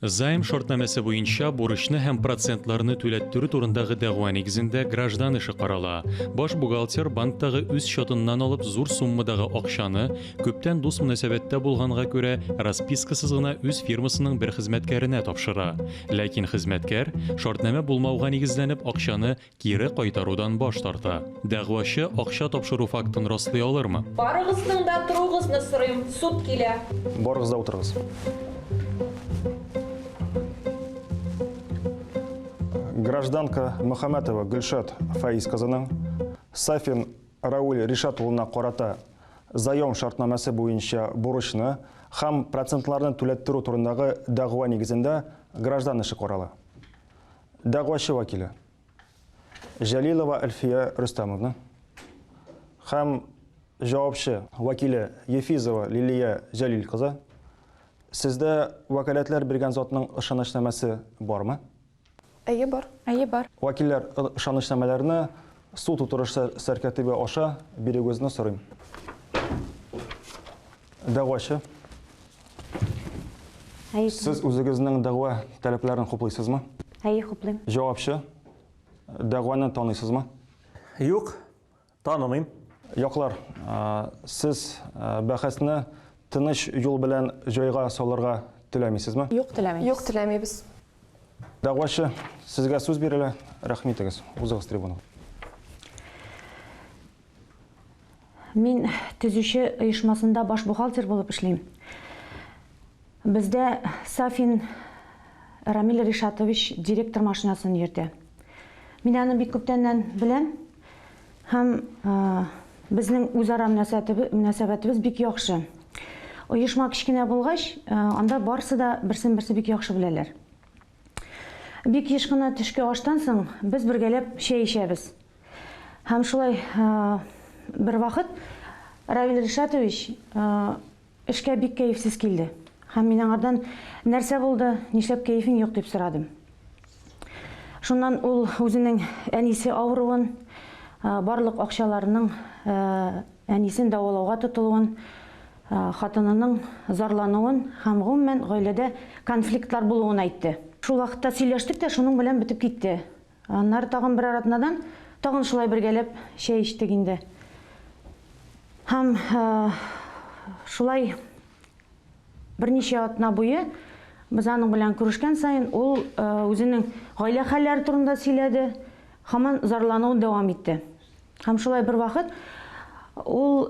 Займ шартнамәсе буенча бурычны һәм процентларны түләттерү турындагы дәгъва нигезендә граждан эше карала. Баш бухгалтер банктагы үз счетыннан алып зур суммадагы акчаны, күптән дус мөнәсәбәттә булганга күрә, распискасыз гына үз фирмасының бер хезмәткәренә тапшыра. Ләкин хезмәткәр, шартнамә булмауга нигезләнеп, акчаны Кире кайтарудан баш тарта. Дәгъвачы акча тапшыру фактын раслый алырмы? Барыгызның да торугызны сорыйм, суд килә. Барыгыз да утырыгыз. Гражданка Мөхәммәтова Гөлшат Фаиз кызының Сафин Рауль Ришат улына карата заем шартнамәсе буенча бурычны һәм процентларны түләттерү турындагы дәгъва нигезендә граждан эше карала. дәгъвачы вәкиле Җәлилова Әлфия Рөстәмовна һәм җавапчы вәкиле Ефизова Лилия Җәлил кызы, сездә вәкаләтләр биргән затның ышанычнамәсе бармы? Әйе, бар. Әйе, бар. Вәкилләр ышанычнамәләрне Су тутырышы сәркә төбе аша бирегүзне сорыйм. Дәгъвачы. Әй, Сез үзегезнең дәгъва таләпләрен хуплыйсызмы? әй хуплыйм. Җавапчы. Дәгъваны таныйсызмы? Юк, танымыйм. Яклар, а, сез а, бәхәсне тыныч юл белән җайга салырга теләмисезме? Юк теләмим. Юк теләмибез. Дәгъвачы, сезгә сүз бирелә. Рәхмитегез. Узыгыз трибуна. Мин төзүче оешмасында баш бухгалтер булып эшлим. Бездә Сафин Рамиль Ришатович директор машинасын йөртә. Мин аны бик күптәннән беләм. Һәм безнең үзара мөнәсәбәтебез бик яхшы. Оешма кечкенә булгач, анда барсы да берсен-берсе бик яхшы беләләр. Бик еш кына төшке аштан соң без бергәләп чәй эчәбез. Һәм шулай бервакыт Равил Ришатович Эшкә бик кәефсез килде һәм мин аңардан, Нәрсә булды, нишләп кәефең юк? дип сорадым. Шуннан ул үзенең әнисе авыруын, барлык акчаларының әнисен дәвалауга тотылуын, хатынының зарлануын һәм, гомумән, гаиләдә конфликтлар булуын әйтте. Шул вакытта сөйләштек тә шуның белән бетеп китте. Аннары тагын берәр атнадан тагын шулай бергәләп чәй эчтек инде. Һәм шулай берничә атна буе без аның белән күрешкән саен ул үзенең гаилә хәлләре турында сөйләде, һаман зарлануын дәвам итте. Һәм шулай бер вакыт ул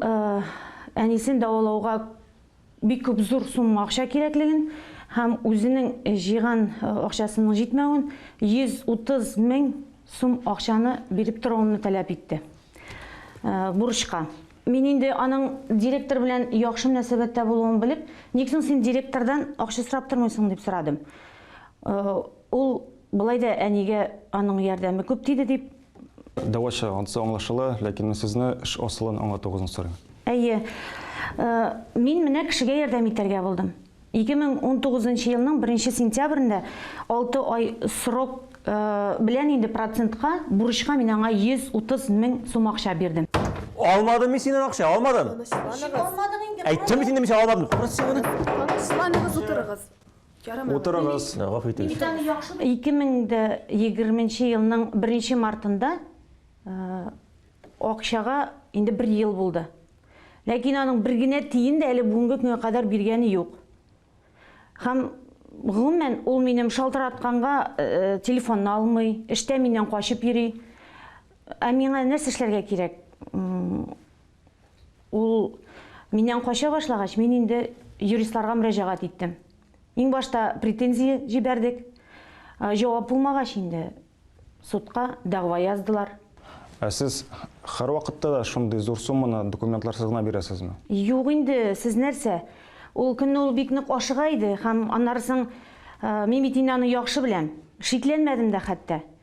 әнисен дәвалауга бик күп зур сумма акча кирәклеген һәм үзенең җыйган акчасының җитмәвен, 130 мең сум акчаны биреп торуымны таләп итте. Бурычка. Мин инде аның директор белән яхшы мөнәсәбәттә булуын белеп, ник соң син директордан акча сорап тормыйсың, дип сорадым. Ул, болай да әнигә аның ярдәме күп тиде, дип Дәвачы, ансы аңлашыла, ләкин мин сезне эш асылын аңлатуыгызны сорыйм. Әйе. Мин менә кешегә ярдәм итәргә булдым. 2019 нчы елның беренче сентябрендә алты ай срок белән инде процентка бурычка мин аңа 130 мең сум акча бирдем. Алмадым мин синнән акча, алмадым! Тынычланыгыз. Әйттем бит инде мин сиңа, алмадым дип. Тынычланыгыз, утырыгыз. Утырыгыз, гафу итегез. 2020 нче елның беренче мартында акчага инде бер ел булды. Ләкин аның бер генә тиен дә әле бүгенге көнгә кадәр биргәне юк. Һәм, гомумән, ул минем шалтыратканга телефонны алмый, эштә миннән качып йөри. Ә миңа нәрсә эшләргә кирәк? Ул миннән кача башлагач, мин инде юристларга мөрәҗәгать иттем. Иң башта претензия җибәрдек. Җавап булмагач инде судка дәгъва яздылар. Ә сез һәрвакытта да шундый зур сумманы документларсыз гына бирәсезме? Юк инде, сез нәрсә? Ул көнне ул бик нык ашыга иде һәм аннары соң мин бит инде аны яхшы беләм. Шикләнмәдем дә хәтта.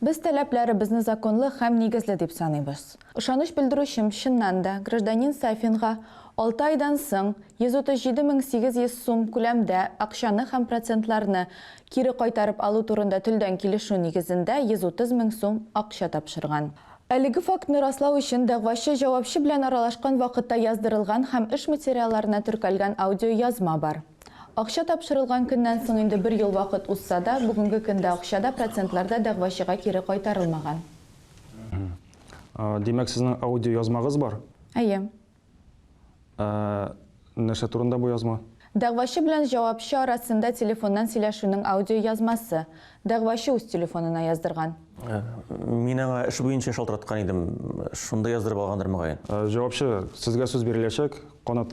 Без таләпләребезне законлы һәм нигезле дип саныйбыз. Ышаныч белдерүчем, чыннан да, гражданин Сафинга алты айдан соң 137 мең 800 сум күләмдә акчаны һәм процентларны кире кайтарып алу турында телдән килешү нигезендә 130 мең сум акча тапшырган. Әлеге фактны раслау өчен дәгъвачы җавапчы белән аралашкан вакытта яздырылган һәм эш материалларына теркәлгән аудиоязма бар. Акча тапшырылган көннән соң инде бер ел вакыт узса да, бүгенге көндә акча да, процентлар да дәгъвачыга кире кайтарылмаган. Димәк, сезнең аудиоязмагыз бар? Әйе. Ә нәрсә турында бу язма? Дәгъвачы белән җавапчы арасында телефоннан сөйләшүнең аудиоязмасы. Дәгъвачы үз телефонына яздырган. Мин аңа эш буенча шалтыраткан идем, шунда яздырып алгандыр, мөгаен. Җавапчы, сезгә сүз биреләчәк, канат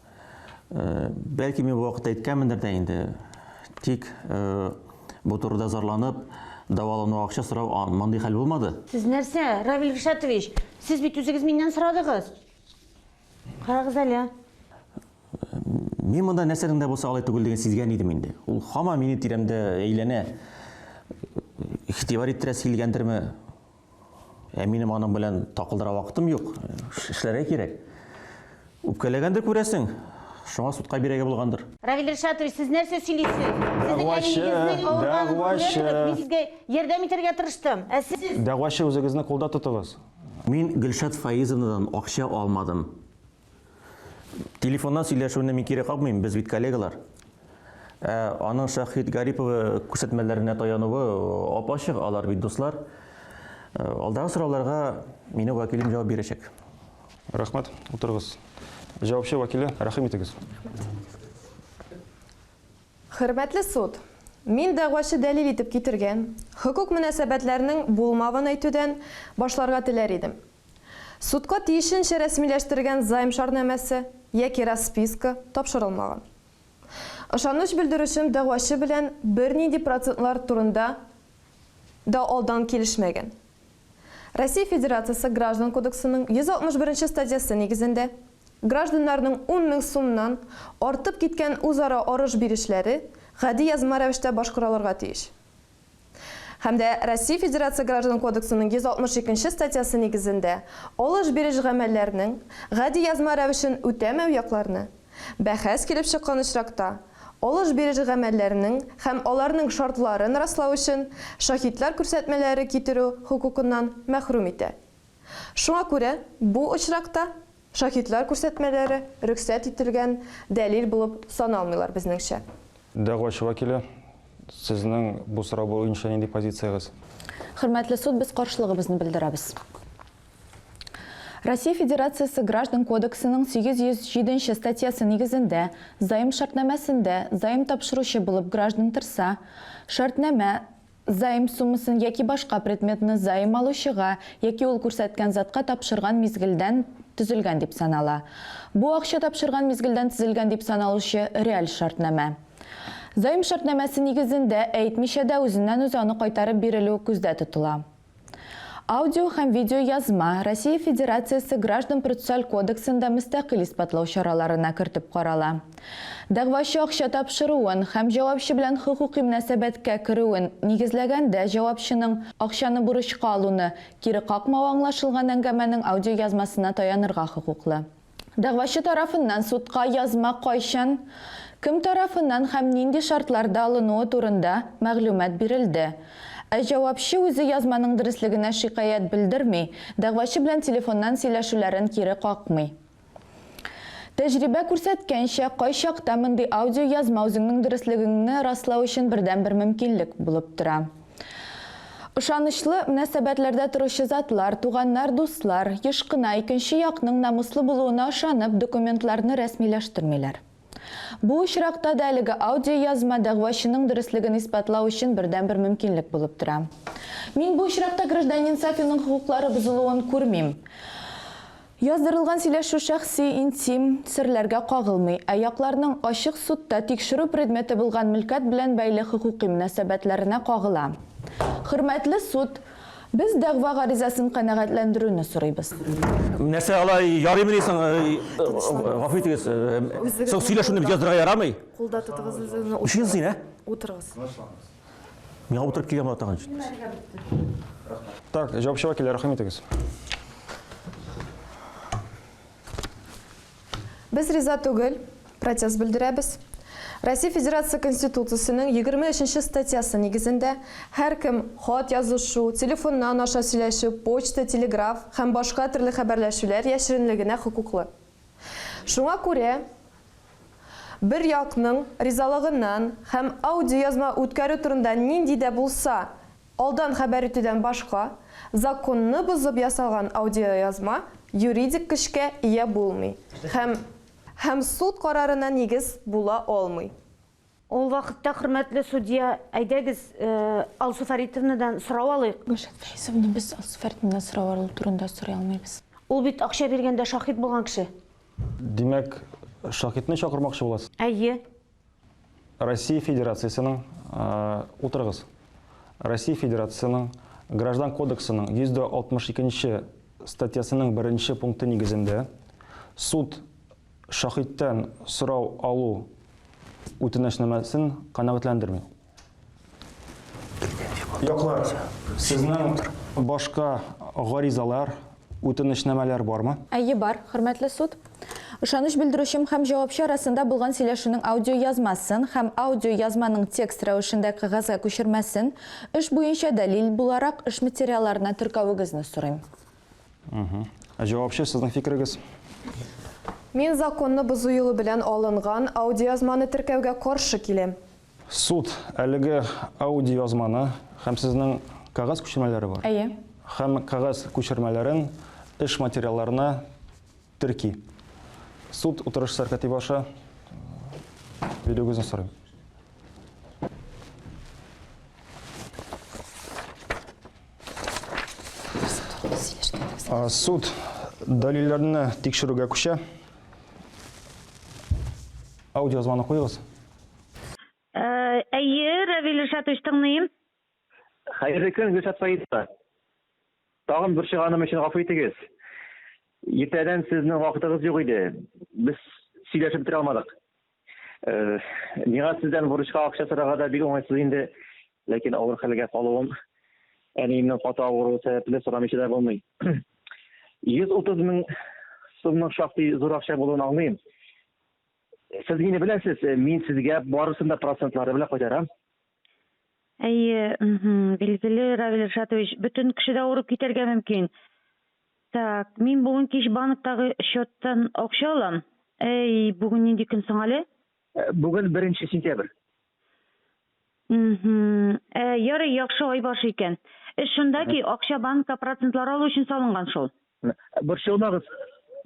Э, бәлки мин бу вакытта әйткәнмендер дә инде тик э, бу турыда зарланып дәвалану акча сорау мондый хәл булмады сез нәрсә равил ришатович сез бит үзегез миннән сорадыгыз карагыз әле мин монда нәрсәнең дә булса алай түгеллеген сизгән идем инде ул һаман минем тирәмдә әйләнә игътибар иттерәсе килгәндерме Ә минем аның белән такылдыра вакытым юк. Эшләргә кирәк. Үпкәләгәндер күрәсең. Шуңа судка бирәгә булгандыр. Равил Ришатович, сез нәрсә сөйлисез? Сезнең әниегезнең авырганын күрә торып, мин сезгә ярдәм итәргә тырыштым. Ә сез? Дәгъвачы, үзегезне кулда тотыгыз. Мин Гөлшат Фаизовнадан акча алмадым. Телефоннан сөйләшүне мин кире какмыйм, без бит коллегалар. Ә аның Шәһит Гариповы күрсәтмәләренә таянуы ап-ачык, алар бит дуслар. Э, алдагы сорауларга мине вәкилем җавап бирәчәк. Рәхмәт, утырыгыз. Җавапчы вәкиле, рәхим итегез. Хөрмәтле суд, мин дәгъвачы дәлил итеп китергән хокук мөнәсәбәтләрнең булмавын әйтүдән башларга теләр идем. Судка тиешенчә рәсмиләштергән займ шарнамәсе яки расписка тапшырылмаган. Ышаныч белдерүчем дәгъвачы белән бернинди процентлар турында да алдан килешмәгән. Россия Федерациясе Граждан кодексының 161 нче статьясы нигезендә гражданнарның ун мең сумнан артып киткән үзара арыш-бирешләре гади язма рәвештә башкаралырга тиеш. Һәм дә Россия Федерация Граждан кодексының 162 нче статьясы нигезендә алыш-биреш гамәлләрнең гади язма рәвешен үтәмәү якларны, бәхәс килеп чыккан очракта, алыш-биреш гамәлләренең һәм аларның шартларын раслау өчен шаһитлар күрсәтмәләре китерү хокукыннан мәхрүм итә. Шуңа күрә бу очракта Шаһитлар күрсәтмәләре рөхсәт ителгән дәлил булып саналмыйлар, безнеңчә. Дәгъвачы вәкиле, сезнең бу сорау буенча нинди позициягез? Хөрмәтле суд, без каршылыгыбызны белдерәбез. Россия Федерациясе Граждан кодексының 807 нче статьясы нигезендә заем шартнамәсендә заем тапшыручы булып граждан торса, шартнамә, Заем суммасын яки башка предметны заем алучыга яки ул күрсәткән затка тапшырган мизгелдән төзелгән дип санала. Бу акча тапшырган мизгелдән төзелгән дип саналучы реаль шартнамә. Заем шартнамәсе нигезендә әйтмичә дә үзеннән-үзе аны кайтарып бирелү күздә тотыла. Аудио һәм видеоязма Россия Федерациясе Граждан-процессуаль кодексында мөстәкыйль исбатлау чараларына кертеп карала. Дәгъвачы акча тапшыруын һәм җавапчы белән хокукый мөнәсәбәткә керүен нигезләгәндә җавапчының акчаны бурычка алуны кире какмавы аңлашылган әңгәмәнең аудиоязмасына таянырга хокуклы. Дәгъвачы тарафыннан судка язма кайчан, кем тарафыннан һәм нинди шартларда алынуы турында мәгълүмат бирелде. Ә җавапчы үзе язманың дөреслегенә шикаять белдерми, дәгъвачы белән телефоннан сөйләшүләрен кире какмый. Тәҗрибә күрсәткәнчә, кайчакта мондый аудиоязма үзеңнең дөреслегеңне раслау өчен бердәнбер мөмкинлек булып тора. Ышанычлы мөнәсәбәтләрдә торучы затлар, туганнар, дуслар, еш кына икенче якның намуслы булуына ышанып, документларны рәсмиләштермиләр. Бу очракта да әлеге аудиоязма дәгъвачының дөреслеген исбатлау өчен бердәнбер мөмкинлек булып тора. Мин бу очракта гражданин Сафинның хокуклары бозылуын күрмим. Яздырылган сөйләшү шәхси, интим, серләргә кагылмый, ә якларның ачык судта тикшерү предметы булган мөлкәт белән бәйле хокукый мөнәсәбәтләренә кагыла. Хөрмәтле суд, без дәгъва гаризасын канәгатьләндерүне сорыйбыз. Нәрсә, алай ярыймыни соң? Гафу итегез, соң сөйләшүне бит яздырырга ярамый. Кулда тотыгыз үзегезне. Өчен син, ә? Утырыгыз. Тынычланыгыз. Миңа утырып килгән бала тагын җитмәс. Так, җавапчыга килә, рәхим итегез. Без риза түгел, протест белдерәбез. Россия Федерация Конституциясенең 23 нче статьясы нигезендә һәркем хат язышу, телефоннан аша сөйләшү, почта, телеграф һәм башка төрле хәбәрләшүләр яшеренлегенә хокуклы. Шуңа күрә, бер якның ризалыгыннан һәм аудиоязма үткәрү турында нинди дә булса алдан хәбәр итүдән башка, законны бозып ясалган аудиоязма юридик көчкә ия булмый һәм һәм суд карарына нигез була алмый. Ул вакытта, хөрмәтле судья, әйдәгез, Алсу Фәритовнадан сорау алыйк. Гөлшат Фәйзовна, без Алсу Фәритовнадан сорау алу турында сорый алмыйбыз. Ул бит акча биргәндә шаһит булган кеше. Димәк, шаһитны чакырмакчы буласыз? Әйе. Россия Федерациясенең, утырыгыз, Россия Федерациясенең Граждан кодексының 162 нче статьясының беренче пункты нигезендә суд Шаһиттән сорау алу үтенәчнамәсен канәгатьләндерми. Яклар, сезнең башка гаризалар, үтенечнамәләр бармы? Әйе, бар, хөрмәтле суд. Ышаныч белдерүчем һәм җавапчы арасында булган сөйләшүнең аудиоязмасын һәм аудиоязманың текст рәвешендә кәгазьгә күчермәсен эш буенча дәлил буларак эш материалларына теркәвегезне сорыйм. Җавапчы, сезнең фикерегез? Мин законны бозу юлы белән алынган аудиоязманы теркәүгә каршы киләм. Суд, әлеге аудиоязманы һәм сезнең кәгазь күчермәләре бар. Әйе. Һәм кәгазь күчермәләрен эш материалларына терки. Суд утырыш сәркәтибе аша бирүегезне сорыйм. Суд дәлилләрне тикшерүгә күчә. Аудиозвонок куегыз. Әйе, Равил Ришатович, тыңлыйм. Хәерле көн, Гөлшат Фаизова. Тагын борчыганым өчен гафу итегез. Иртәдән сезнең вакытыгыз юк иде. Без сөйләшеп бетерә алмадык. Э, миңа сездән бурычка акча сорарга да бик уңайсыз инде, ләкин авыр хәлгә калуым әниемнең каты авыруы сәбәпле сорамыйча да булмый. 130 мең сумның шактый зур акча булуын аңлыйм. Сез мине беләсез, мин сезгә барысын да процентлары белән кайтарам. Әйе, мхм, билгеле, Равил Ришатович, бөтен кеше дә авырып китәргә мөмкин. Так, мин бүген кич банктагы счеттан акча алам. Әй, бүген нинди көн соң әле? Э, Бүген беренче сентябрь. Мхм. Ә, ярый, яхшы ай башы икән. Эш шунда ки, акча банкка процентлар алу өчен салынган шул. Борчылмагыз,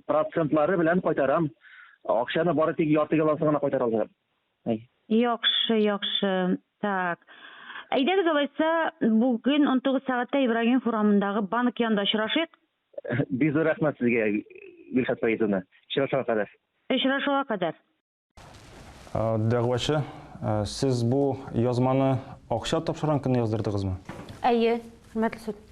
процентлары белән кайтарам. Акчаны бары тик ярты ялансын гына кайтара алам. Ай. Яхшы, яхшы. Так. Әйдәгез алайса, бүген унтугыз сәгатьтә Ибрагимов урамындагы банк янында очрашыйк. Бик зур рәхмәт сезгә, Гөлшат Фаизовна. Очрашуга кадәр. Очрашуга кадәр. Дәгъвачы, сез бу язманы акча тапшырган көнне яздырдыгызмы? Әйе, хөрмәтле суд.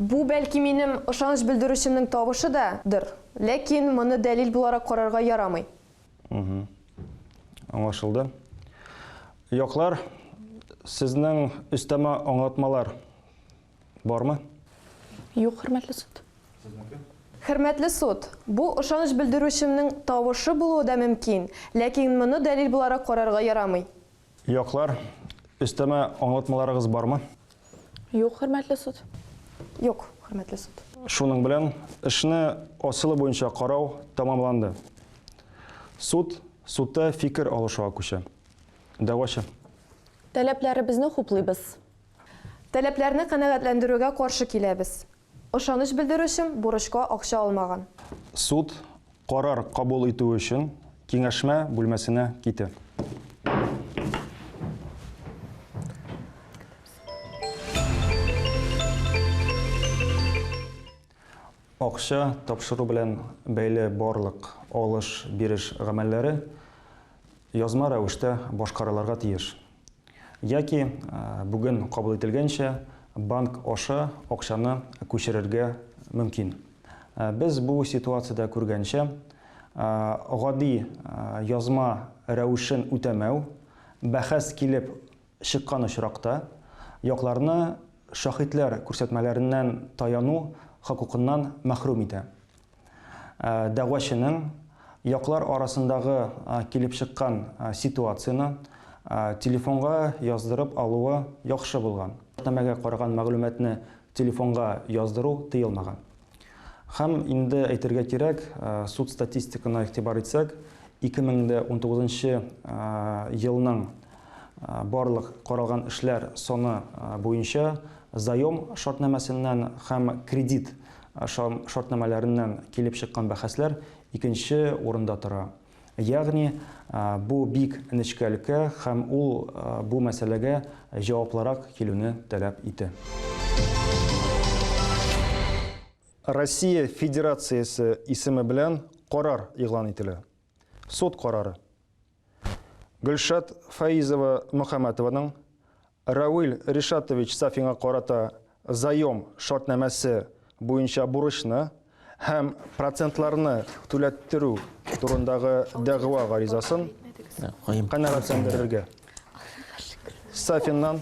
Бу, бәлки, минем ышаныч белдерүчемнең тавышы да, дыр. Ләкин моны дәлил буларак карарга ярамый. Мхм. Аңлашылды. Яклар, сезнең өстәмә аңлатмалар бармы? Юк, хөрмәтле суд. Сезнеке? Хөрмәтле суд, бу ышаныч белдерүчемнең тавышы булуы да мөмкин, ләкин моны дәлил буларак карарга ярамый. Яклар, өстәмә аңлатмаларыгыз бармы? Юк, хөрмәтле суд. Юк, хөрмәтле суд. Шуның белән эшне асылы буенча карау тәмамланды. Суд судта фикер алышуга күчә. Дәгъвачы. Таләпләребезне хуплыйбыз. Таләпләрне канәгатьләндерүгә каршы киләбез. Ышаныч белдерүчем бурычка акча алмаган. Суд карар кабул итү өчен киңәшмә бүлмәсенә китә. Акча тапшыру белән бәйле барлык алыш-биреш гамәлләре язма рәвештә башкарылырга тиеш. Яки, бүген кабул ителгәнчә, банк аша акчаны күчерергә мөмкин. Без бу ситуациядә күргәнчә, гади язма рәвешен үтәмәү, бәхәс килеп чыккан очракта, якларны шаһитләр күрсәтмәләреннән таяну хокукыннан мәхрүм итә. дәгъвачының яклар арасындагы килеп чыккан ситуацияне телефонга яздырып алуы яхшы булган. Шартнамәгә караган мәгълүматны телефонга яздыру тыелмаган. Һәм инде әйтергә кирәк, суд статистикына игътибар итсәк, 2019 елның барлык каралган эшләр саны буенча заем шартнамәсеннән һәм кредит Ашау шартнамәләреннән килеп чыккан бәхәсләр икенче урында тора. Ягъни, бу бик нечкә өлкә һәм ул бу мәсьәләгә җаваплырак килүне таләп итә. Россия Федерациясе исеме белән карар игълан ителә. Суд карары. Гөлшат Фәизова Мөхәммәтованың Равил Ришатович Сафинга карата заем шартнамәсе буенча бурычны һәм процентларны түләттерү турындагы дәгъва гаризасын канәгатьләндерергә. Сафиннан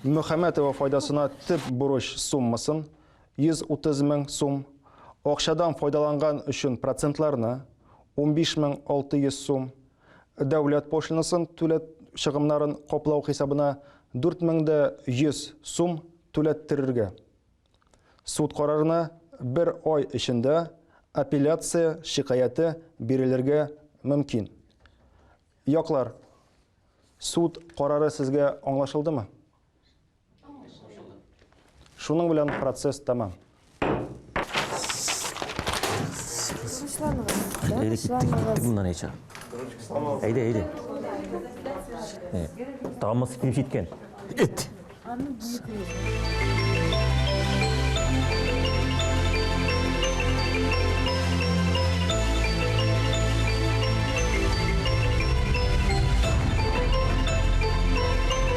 Мөхәммәтова файдасына төп бурыч суммасын 130 мең сум, акчадан файдаланган өчен процентларны, 15 мең 600 сум, дәүләт пошлинасын түләт чыгымнарын каплау хисабына 4 мең дә 100 сум түләттерергә. Суд карарына бер ай эчендә апелляция шикаяте бирелергә мөмкин. Яклар, суд карары сезгә аңлашылдымы? Шуның белән процесс тәмам. Әйдә киттек, киттек моннан әйтсә. Әйдә, әйдә. Тамыз килеп җиткән. Эт.